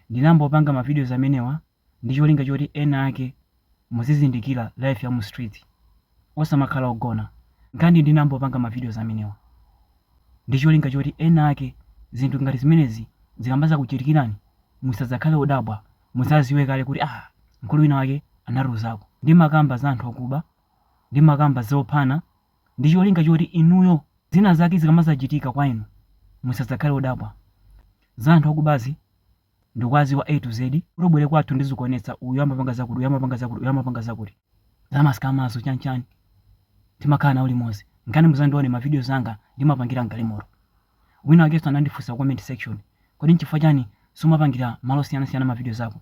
Ndinambopanga ma videos amenewa ndi cholinga choti ena ake muzizindikira life ya mu streets osamakhala ogona nkhani ndinambopanga ma videos amenewa ndi cholinga choti ena ake zinthu ngati zimenezi zikamazakuchitikirani musazakhale odabwa muzaziwe kale kuti aah mkulu wina wake anatiuzako. Ndimakamba za anthu akuba, ndimakamba zophana, ndi cholinga choti inuyo zina zake zikamazachitika kwa inu musadzakhale odabwa. Za anthu akubazi ndikuaziwa A to Z, utabwera kwathu ndizikuonetsa uyu amapanga zakuti, uyu amapanga zakuti, uyu amapanga zakuti. Za ma scammerzo chani chani timakhala nawo limodzi. Nkhani muzandione ma videos anga ndimapangira mgalimoto. Wina wake anandifunsa ku comment section, kodi nchifukwa chani sumapangira malo osiyanasiyana ma videos ako?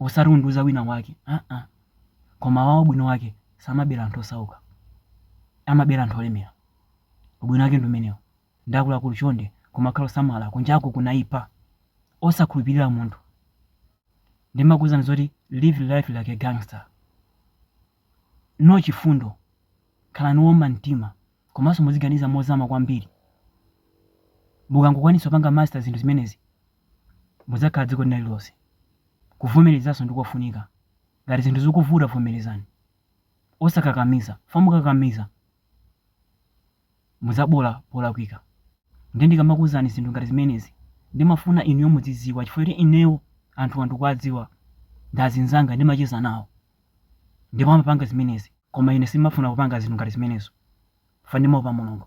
osati undiuza wina wake aa koma wawo ubwino wake samabera anthu osauka amabera anthu olemera ubwino wake ndi umenewo nde akuluakulu chonde kumakhala osamala kunjaku kunaipa osakhulupirira munthu ndimakuuzani zoti live life like a gangster no chifundo khalani owuma mtima komanso muziganiza mozama kwambiri mukangokwanitsa kupanga master zinthu zimenezi Mudzakhala dziko lina lililonse. Kuvomerezanso ndi kofunika. Ngati zinthu zikuvuta vomerezani. Osakakamiza, fa mukakamiza mudzaboola polakwika. Nde ndikamakuuzani zinthu ngati zimenezi, ndimafuna inuyo muzidziwa chifukwa choti ineyo anthuwa ndikuwadziwa, ndi azinzanga ndimacheza nawo ndipo amapanga zimenezi. Koma ine sindimafuna kupanga zinthu ngati zimenezo fa ndimaopa Mulungu.